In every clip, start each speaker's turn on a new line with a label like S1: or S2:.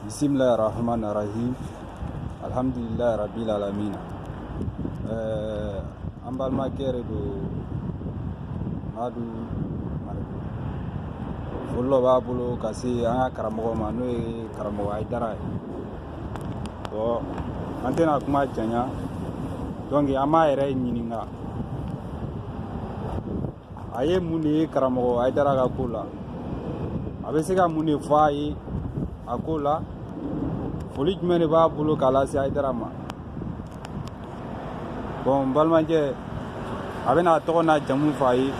S1: bisimilahi rahman rahim alhamdulilayi rabil alamin eh, an balimakɛ yɛrɛ don madu mariko foli dɔ b'a bolo ka se an ka karamɔgɔ ma n'o ye karamɔgɔ ayidara ye bɔn an tɛna kuma janya donc an b'a yɛrɛ ɲininka a ye mun de ye karamɔgɔ ayidara ka ko la a bɛ se ka mun de fɔ a ye a ko la foli jumɛn de b'a bolo k'a lase ayidara ma bɔn n balimakɛ a bɛna a tɔgɔ n'a jamu fɔ a ye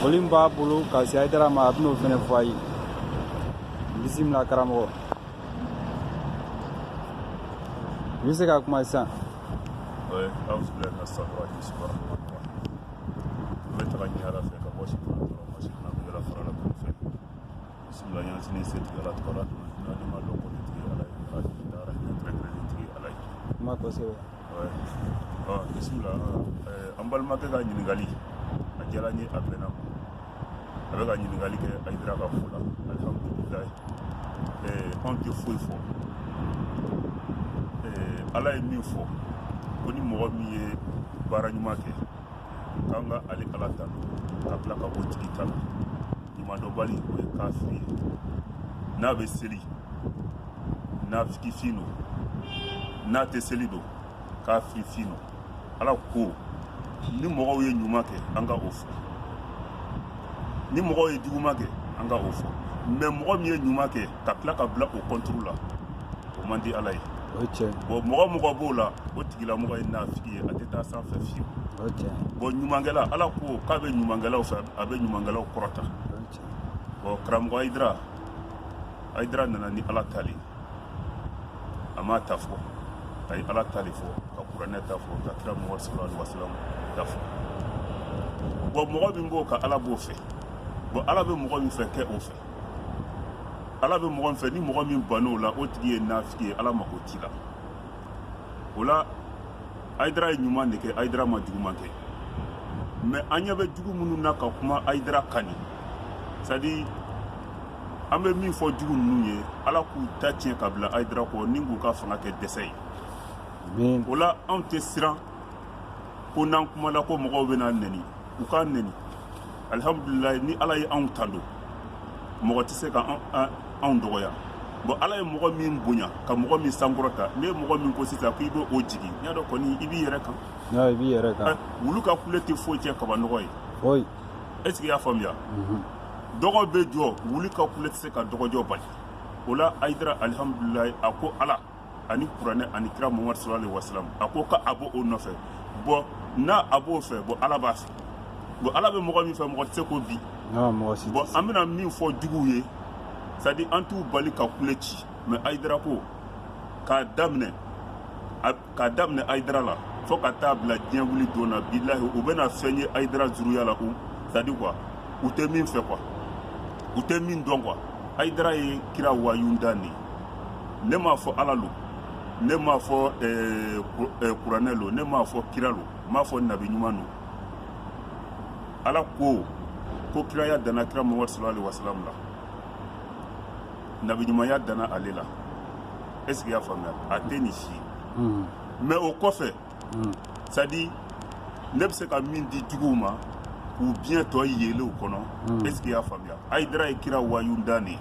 S1: foli min b'a bolo ka se ayidara ma a bɛn'o fɛnɛ fɔ a ye bisimila karamɔgɔ i bɛ se ka kuma sisan An bɛ tanga ɲini Ala fɛ ka bɔ sitana tɔɔrɔ ma, sitana min kɛra farala kulu fɛ. Bisimila an y'an sinsin setigi Ala tɔgɔ la, n'a ni ma dɔn kɔni tigi Ala ye, Ala ye da Ala hinɛ kɛrɛnkɛrɛnnen tigi Ala ye. Kuma kosɛbɛ. Ouais. Ɔ bisimila ɛɛ an balimakɛ ka ɲininkali a diyara n ye a bɛnna n ma. a bɛ ka ɲininkali kɛ ayidara ka fo la alihamudulilayi anw tɛ foyi fɔ ala ye min fɔ ko ni mɔgɔ min ye baara ɲuman kɛ k'an ka ale ala tando ka tila ka o tigi tando ɲumandɔnbali o ye kafiri ye n'a bɛ seli nafiki fin don n'a tɛ seli don kafiri fin don ala ko ni mɔgɔw ye ɲuman kɛ an ka o fɔ ni mɔgɔw ye juguman kɛ an ka o fɔ mɛ mɔgɔ min ye ɲuman kɛ ka tila ka bila o kɔnturu la o man di ala ye bɔn mɔgɔ o mɔgɔ b'o la o tigilamɔgɔ ye nafiki ye a tɛ taa sanfɛ fiyewu bɔn ɲumankɛla ala ko k'a bɛ ɲumankɛlaw fɛ a bɛ ɲumankɛlaw kɔrɔta bɔn karamɔgɔ ayidara ayidara nana ni ala ta de a m'a ta fɔ a ye ala ta de fɔ ka kuranɛ ta fɔ ka kira mahamadu sallallahu alaihi wasallam ta fɔ bɔn mɔgɔ min b'o kan ala b'o fɛ bɔn ala bɛ mɔgɔ min fɛ kɛ o fɛ ala bɛ mɔgɔ min fɛ ni mɔgɔ min ban'o la o tigi ye nafiki ye ala mako t'i la o la ayidara ye ɲuman de kɛ ayidara ma juguman kɛ mɛ an ɲɛ bɛ jugu minnu na ka kuma ayidara kan nin c'est à dire an bɛ min fɔ jugu ninnu ye ala k'u ta tiɲɛ ka bila ayidara kɔ ni k'u ka fanga kɛ dɛsɛ ye o la anw tɛ siran ko n'an kumala ko mɔgɔw bɛn'an nɛni u k'an nɛni alihamudulilayi ni ala ye anw tando mɔgɔ tɛ se ka anw dɔgɔya bɔn ala ye mɔgɔ min bonya ka mɔgɔ min sankɔrɔta ni e mɔgɔ min ko sisan ko i bɛ o jigin n y'a dɔn kɔni i b'i yɛrɛ kan i b'i yɛrɛ kan wulu ka kule tɛ foyi tiɲɛ kabanɔgɔ ye est ce que i y'a faamuya dɔgɔ bɛ jɔ wulu ka kule tɛ se ka dɔgɔjɔ bali o la ayidara alihamudulilayi a ko ala ani kuranɛ ani kira muhamadu sallallahu alaihi wasallam a ko ka a b'o o nɔfɛ bɔn n'a a b'o fɛ bɔn ala b'a fɛ bɔn ala bɛ mɔgɔ min fɛ mɔgɔ tɛ se k'o bin bɔn an bɛna min fɔ juguw ye sadi an t'u bali ka kule ci mɛ ayidara ko k'a daminɛ k'a daminɛ ayidara la fo ka taa bila diɲɛ wuli don na bilahi u bɛna fɛn ye ayidara zuruya la u sadi kuwa u tɛ min fɛ kuwa u tɛ min dɔn kuwa ayidara ye kira wayunda de ye ne m'a fɔ ala lo ne m'a fɔ eh, eh, kuranɛ lo ne m'a fɔ kira lo n m'a fɔ nabi ɲuman lo ala ko ko kiraya danna kira mamadu sallallahu alaihi wasallam la nabi ɲumanya danna ale la est ce que i y'a faamuya a tɛ nin si ye mais o kɔfɛ c'est à dire ne bɛ se ka min di juguw ma k'u biɲɛ tɔ yeele u kɔnɔ est ce que i y'a faamuya ayidara ye kira wayunda de ye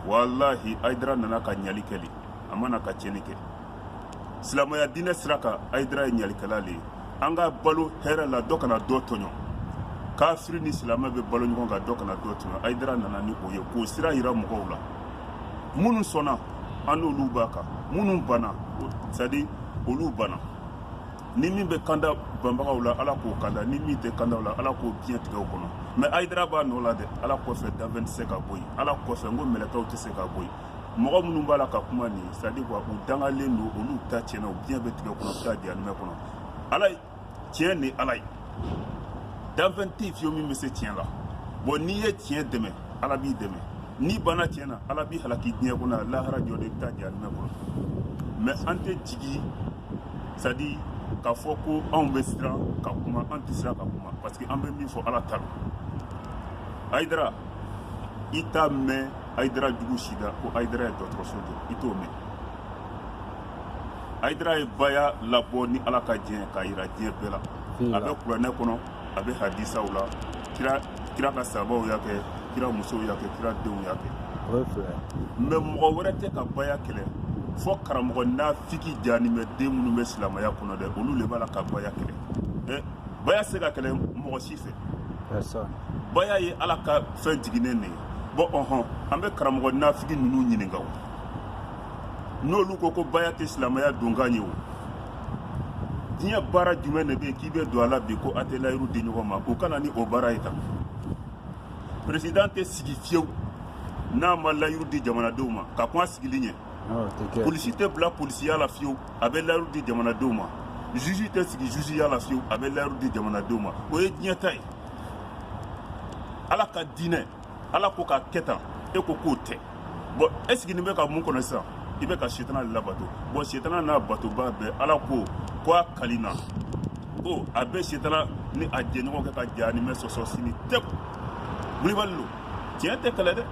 S1: walahi ayidara nana ka ɲali kɛ de a ma na ka tiɲɛni kɛ silamaya diinɛ sira kan ayidara ye ɲalikɛla de ye an ka balo hɛrɛ la dɔ kana dɔ tɔɲɔ kafiri ni silamɛ bɛ balo ɲɔgɔn kan dɔ kana dɔ tɔɲɔ ayidara nana ni o ye k'o sira yira mɔgɔw la minnu sɔnna an n'olu b'a kan minnu banna sadi olu banna ni min bɛ kanda banbagaw la ala k'o kanda ni min tɛ kanda u la ala k'o biɲɛ tigɛ u kɔnɔ mɛ ayidara b'a nɔ la dɛ ala kɔfɛ danfɛn tɛ se k'a bɔ yen ala kɔfɛ n ko mɛlɛkaw tɛ se k'a bɔ yen mɔgɔ minnu b'a la ka kuma nin sadi kuwa u dangalen don olu ta tiɲɛna u biɲɛ bɛ tigɛ kɔnɔ u bɛ taa jahanimɛ kɔnɔ ala tiɲɛ ni ala ye danfɛn tɛ fiyewu min bɛ se tiɲɛ la bɔn n'i ye tiɲɛ dɛmɛ ala b'i dɛmɛ n'i banna tiɲɛ na ala b'i halaki diɲɛ kɔnɔ a lahara jɔ de i bɛ taa jahanamɛ kɔnɔ mɛ an tɛ jigin sadi k'a fɔ ko anw bɛ siran ka kuma an tɛ siran ka kuma parce que an bɛ min fɔ ala ta don ayidara i t'a mɛn ayidara jugu si da ko ayidara ye dɔgɔtɔrɔso jɔ i t'o mɛn ayidara ye baya labɔ ni ala ka diɲɛ k'a yira diɲɛ bɛɛ la a bɛ kuranɛ kɔnɔ a bɛ hadisaw la kira kira ka sabaw y'a kɛ kira musow y'a kɛ kira denw y'a kɛ mɛ mɔgɔ wɛrɛ tɛ ka baya kɛlɛ fo karamɔgɔ nafiki jahanimɛ den minnu bɛ silamɛya kɔnɔ dɛ olu le b'a la ka baya kɛlɛ ɛ baya se ka kɛlɛ mɔgɔ si fɛ baya ye ala ka fɛn jiginnen de ye bɔn ɔhɔn an bɛ karamɔgɔ nafiki ninnu ɲininka o n'olu ko ko baya tɛ silamaya donkan ye o diɲɛ baara jumɛn de bɛ yen k'i bɛ don a la bi ko a tɛ layiru di ɲɔgɔn ma u ka na ni o baara ye tan peresidan tɛ sigi fiyewu n'a ma layiru di jamanadenw ma ka kɔn a sigili ɲɛ ah, polisi tɛ bila polisiya la fiyewu a bɛ layiru di jamanadenw ma juge tɛ sigi jugeya la fiyewu a bɛ layiru di jamanadenw ma o ye diɲɛ ta ye ala ka diinɛ ala ko k'a kɛ tan e ko k'o tɛ bɔn e siginin bɛ ka mun kɔnɔ sisan i bɛ ka setana le labato bɔn setana n'a batoba bɛɛ ala ko ko a kalina ko a bɛ setana ni a jɛɲɔgɔn kɛ ka jahanimɛ sɔsɔ sini tiɲɛ ko wulibali lo tiɲɛ tɛ kɛlɛ dɛ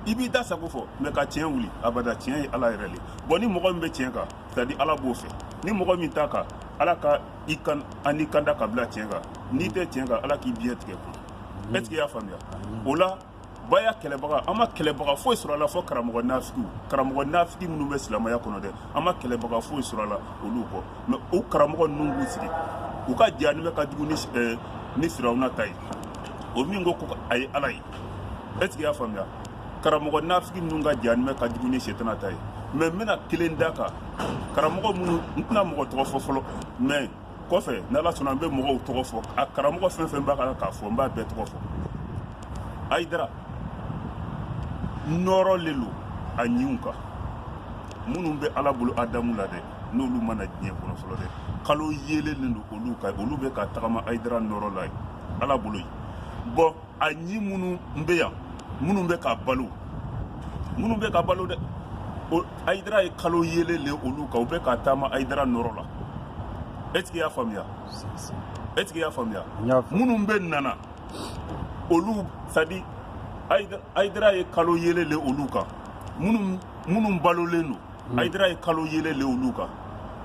S1: i b'i da sago fɔ mɛ ka tiɲɛ wuli abada tiɲɛ ye ala yɛrɛ le bɔn ni mɔgɔ min bɛ tiɲɛ kan sadi ala b'o fɛ ni mɔgɔ min t'a kan ala ka i kan ani kanda ka bila tiɲɛ kan n'i tɛ tiɲɛ kan ala k'i biɲɛ tigɛ kun est ce que i y'a faamuya o la baya kɛlɛbaga an ma kɛlɛbaga foyi sɔrɔ a la fɔ karamɔgɔ nafigiw karamɔgɔ nafigi minnu bɛ silamaya kɔnɔ dɛ an ma kɛlɛbaga foyi sɔrɔ a la olu kɔ mɛ o karamɔgɔ ninnu b'u sigi u ka jahanimɛ ka jugu ni eh, ni firawuna ta ye o min ko ko a ye ala ye est ce que i y'a faamuya karamɔgɔ nafigi minnu ka jahanimɛ ka jugu ni setana ta ye mɛ n bɛna kelen da kan karamɔgɔ minnu n tɛna mɔgɔ tɔgɔ fɔ fɔlɔ mɛ kɔfɛ n' ala sɔnna n bɛ mɔgɔw tɔgɔ fɔ a karamɔgɔ fɛn fɛn b'a kan k'a fɔ n b'a bɛɛ tɔgɔ fɔ ayidara nɔrɔ le lo a ɲinw kan minnu bɛ ala bolo adamu la dɛ n'olu ma na diɲɛ kɔnɔ fɔlɔ dɛ kalo yeelen le don olu kan olu bɛ ka tagama ayidara nɔrɔ la yen ala bolo yen bɔn a ɲin minnu bɛ yan minnu bɛ ka balo minnu bɛ ka balo dɛ ayidara ye kalo yeelen le olu kan u bɛ ka taama ayidara nɔrɔ la est ce que y'a faamuya est ce que y'a faamuya minnu bɛna na olu sadi ayidara ye kalo yeelen le olu kan minnu minnu balolen don ayidara ye kalo yeelen le olu kan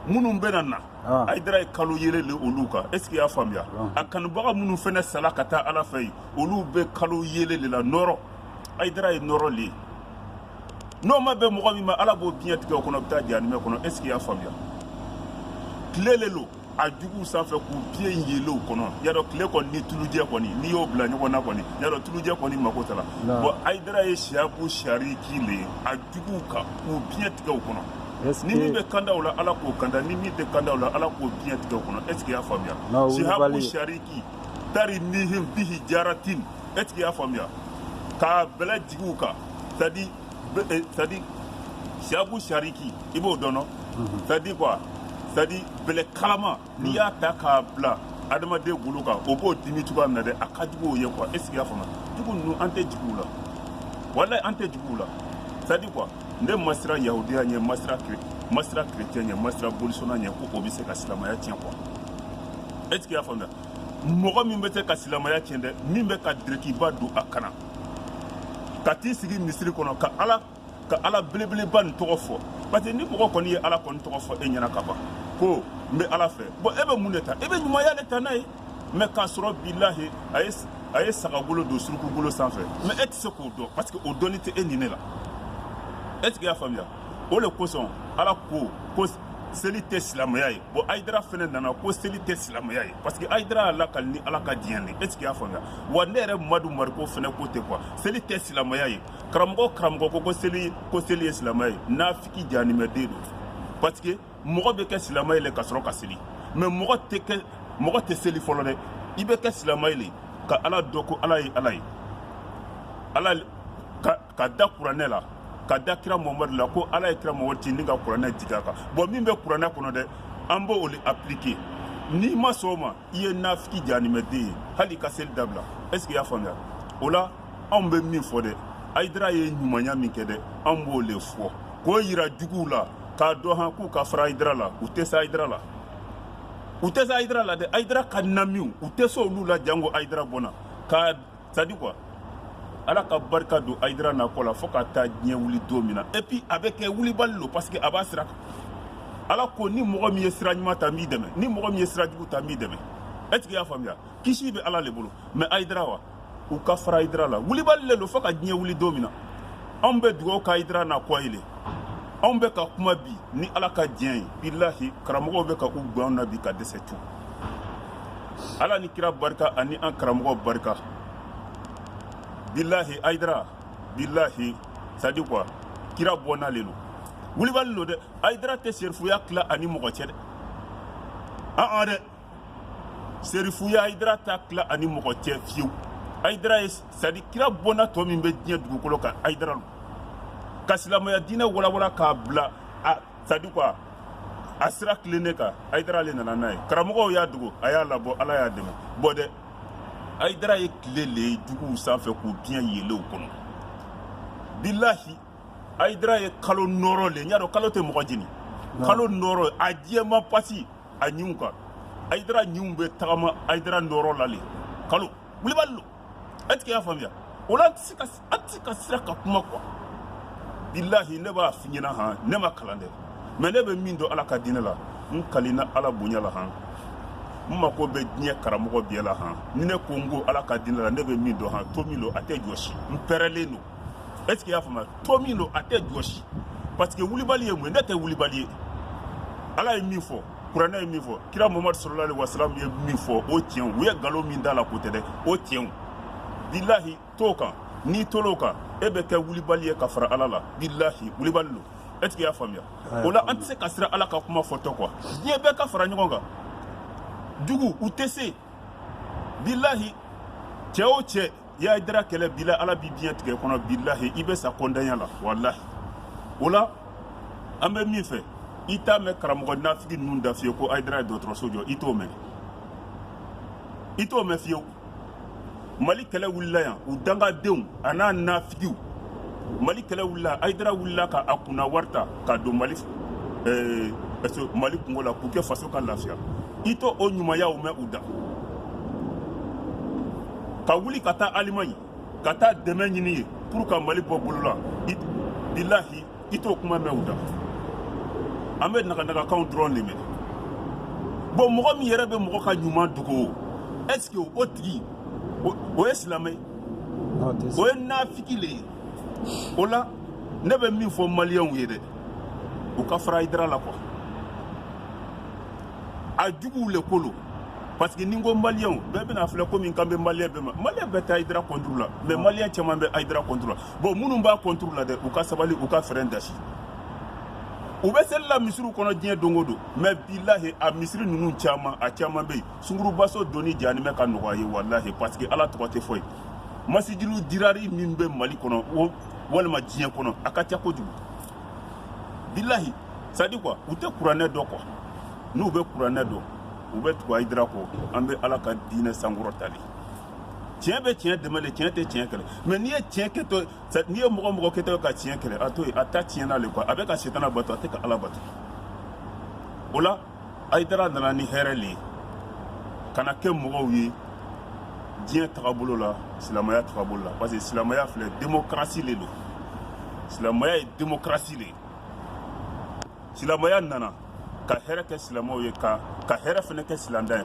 S1: minnu bɛna na ah. ayidara ye kalo yeelen le olu kan est ce que y'a faamuya ah. a kanubaga minnu fɛnɛ sala ka taa ala fɛ yen olu bɛ kalo yeelen le la nɔrɔ ayidara ye nɔrɔ le ye n'o ma bɛn mɔgɔ min ma ala b'o biɲɛ tigɛ o kɔnɔ bɛ taa jahanimɛ kɔnɔ est ce que y'a faamuya tile le lo a juguw sanfɛ k'u biɲɛ yeelen o kɔnɔ y'a dɔn tile kɔni ni tulujɛ kɔni n'i y'o bila ɲɔgɔn na kɔni y'a dɔn tulujɛ kɔni mako t'a la bɔn ayidara ye sihabu sariki le ye a juguw kan k'u biɲɛ tigɛ o kɔnɔ ni min bɛ kanda la ala k'o kanda ni min tɛ kanda la ala k'o biɲɛ tigɛ kɔnɔ est ce que y'a faamuya sihabu sariki tarimihim bihijaratin est ce que y'a faamuya ka bɛlɛ jigi u kan sadi sadi eh, sihabu sariki i b'o dɔn sadi quoi sadi bɛlɛ kalama n'i y'a ta k'a bila adamaden golo kan o b'o dimi cogoya min na dɛ a ka jugu o ye quoi est ce que y'a faamuya jugu ninnu an tɛ juguw la walayi an tɛ juguw la c'est à dire quoi ne ma siran yahudiya ɲɛ ma siran ma siran chrétien ɲɛ ma siran bolisɔnna ɲɛ ko o bɛ se ka silamaya tiɲɛ quoi est ce que y'a faamuya mɔgɔ min bɛ se ka silamaya tiɲɛ dɛ min bɛ ka dirikiba don a kan na ka t'i sigi misiri kɔnɔ ka ala ka ala belebeleba nin tɔgɔ fɔ parce que ni mɔgɔ kɔni ye ala kɔni tɔgɔ fɔ e ɲɛ na ka ban ko n bɛ ala fɛ bon e bɛ mun de ta e bɛ ɲumanya de ta n'a ye mais k'a sɔrɔ bilahi a ye a ye sagagolo don surukugolo sanfɛ mais e tɛ se k'o dɔn parce que o dɔnni tɛ e ni ne la est ce que i y'a faamuya o de kosɔn ala ko ko seli tɛ silamɛya ye bon ayidara fɛnɛ nana ko seli tɛ silamɛya ye parce que ayidara y'a lakali ni ala ka diɲɛ de est ce que i y'a faamuya wa ne yɛrɛ madu mariko fɛnɛ ko ten quoi seli tɛ silamɛya ye karamɔgɔ karamɔgɔ ko ko seli ko seli ye silamɛ ye nafiki jahanimɛden don parce que mɔgɔ bɛ kɛ silamɛ ye le ka sɔrɔ ka seli mais mɔgɔ tɛ kɛ mɔgɔ tɛ seli fɔlɔ dɛ i bɛ kɛ silamɛ ye le ka ala dɔn ko ala ye ala ye ala ka ka da kuranɛ la ka da kira muhamadu la ko ala ye kira muhamadu ci ni ka kuranɛ jigin a kan bon min bɛ kuranɛ kɔnɔ dɛ an b'o le appliquer n'i ma sɔn o ma i ye nafiki janimɛden ye hali ka seli dabila est ce que i y'a faamuya o la anw bɛ min fɔ dɛ ayidara ye ɲumanya min kɛ dɛ anw b'o le fɔ k'o yira juguw la k'a dɔn han k'u ka fara ayidara la u tɛ se ayidara la u tɛ se ayidara la dɛ ayidara ka namiw u tɛ se olu la jango ayidara bɔnna ka c'est à dire quoi ala ka barika don ayidara na kɔ la fo ka taa diɲɛ wuli don min na et puis a bɛ kɛ wulibali lo parce que a b'a sira kan ala ko ni mɔgɔ min ye sira ɲuman ta n b'i dɛmɛ ni mɔgɔ min ye sira jugu ta n b'i dɛmɛ est ce que i y'a faamuya kisi bɛ ala le bolo mais ayidara wa u ka fara ayidara la wulibali le lo fo ka diɲɛ wuli don min na anw bɛ dugawu ka ayidara na kɔ ye le anw bɛ ka kuma bi ni ala ka diɲɛ ye bilahi karamɔgɔw bɛ ka u gwan anw na bi ka dɛsɛ tu ala ni kira barika ani an karamɔgɔ barika bilahi ayidara bilahi c'est à dire quoi kira bɔnna le lo wulibali lo dɛ ayidara tɛ serifuya tila a ni mɔgɔ cɛ dɛ an-an dɛ serifuya ayidara t'a tila a ni mɔgɔ cɛ fiyewu ayidara ye c'est à dire kira bɔnna tɔ min bɛ diɲɛ dugukolo kan ayidara lo ka silamɛya diinɛ walawala k'a bila c'est à dire quoi a sira tilennen kan ayidara ale nana n'a ye karamɔgɔw y'a dogo a y'a labɔ ala y'a dɛmɛ bɔ dɛ ayidara ye tile le ye juguw sanfɛ k'u biɲɛ yeelen u kɔnɔ bilahi ayidara ye kalo nɔɔrɔ le n y'a dɔn kalo tɛ mɔgɔ jeni kalo nɔɔrɔ a jɛman pasi a ɲinw kan ayidara ɲinw bɛ tagama ayidara nɔɔrɔ la le kalo wulibali lo est ce que i y'a faamuya o la an tɛ se ka siran ka kuma kuwa bilahi ne b'a f'i ɲɛna han ne ma kalan dɛ mɛ ne bɛ min dɔn ala ka diinɛ la n kalina ala bonya la han n mako bɛ diɲɛ karamɔgɔ bɛɛ la han ni ne ko n ko ala ka diinɛ la ne bɛ min dɔn han to min don a tɛ jɔsi n pɛrɛlen don est ce que i y'a faamuya to min don a tɛ jɔsi parce que wulibali ye mun ye ne tɛ wulibali ye ala ye min fɔ kuranɛ ye min fɔ kira muhamadu salalahu alayihi wasalamu ye min fɔ o tiɲɛw u ye nkalon min d'a la k'o tɛ dɛ o tiɲɛw bilahi t'o kan n'i tol'o kan e bɛ kɛ wulibali ye ka fara ala la bilahi wulibali don est ce que i y'a faamuya o la an tɛ se ka siran ala ka kuma fɔtɔ kuwa diɲɛ bɛɛ ka fara ɲɔgɔn kan juguw tɛ se bilahi cɛ o cɛ ye ayidara kɛlɛ bila ala b'i biɲɛ tigɛ kɔnɔ bilahi i bɛ sa kɔndanya la walahi o la an bɛ min fɛ i t'a mɛn karamɔgɔ nafigi ninnu da fiyewu ko ayidara ye dɔgɔtɔrɔso jɔ i t'o mɛn i t'o mɛn fiyewu mali kɛlɛ wulila yan u dangadenw an'a nafigiw mali kɛlɛ wulila yan ayidara wulila ka a kunna wari ta ka don mali eh, mali kunko la k'u kɛ faso ka lafiya i t'o ɲumanyaw mɛn u da ka wuli ka taa alimaɲi ka taa dɛmɛ ɲini yen pour ka mali bɔ bolo la bilahi i t'o kuma mɛn u da an bɛ naganagakanw dɔrɔn de mɛn bon mɔgɔ min yɛrɛ bɛ mɔgɔ ka ɲuman dogo o est ce que o tigi o ye silamɛ ye o ye nafigi le ye o la ne bɛ min fɔ maliyɛnw ye dɛ u ka fara ayidara la kuwa a juguw le ko lo parce que ni n ko maliyɛnw bɛɛ bɛna a filɛ komi n kan bɛ maliyɛn bɛɛ ma maliyɛn bɛɛ tɛ ayidara kɔnturu la mɛ maliyɛn caman bɛ ayidara kɔnturu la bon minnu b'a kɔnturu la dɛ u ka sabali u ka fɛrɛn dasi u bɛ seli la misiriw kɔnɔ diɲɛ don o don mɛ bilahi a misiri ninnu caman a caman bɛ yen sungurubaso donni jani bɛ ka nɔgɔya ye walahi parce que ala tɔgɔ tɛ fɔ yen masijidu dirari min bɛ mali kɔnɔ o walima diɲɛ kɔnɔ a ka ca kojugu bilahi sadi kuwa u tɛ kuranɛ dɔn kuwa n'u bɛ kuranɛ dɔn u bɛ tugu ayidara kɔ an bɛ ala ka diinɛ sankɔrɔta le tiɲɛ bɛ tiɲɛ dɛmɛ de tiɲɛ tɛ tiɲɛ kɛlɛ mɛ n'i ye tiɲɛ kɛtɔ n'i ye mɔgɔ mɔgɔ kɛtɔ ka tiɲɛ kɛlɛ a to yen a ta tiɲɛna le kuwa a bɛ ka setana bato a tɛ ka ala bato o la ayidara nana ni hɛrɛ le ye ka na kɛ mɔgɔw ye diɲɛ tagabolo la silamaya tagabolo la parce que silamaya filɛ demokarasi le don silamaya ye demokarasi le ye silamaya nana ka hɛrɛ kɛ silamɛw ye ka ka hɛrɛ fana kɛ silamɛntan ye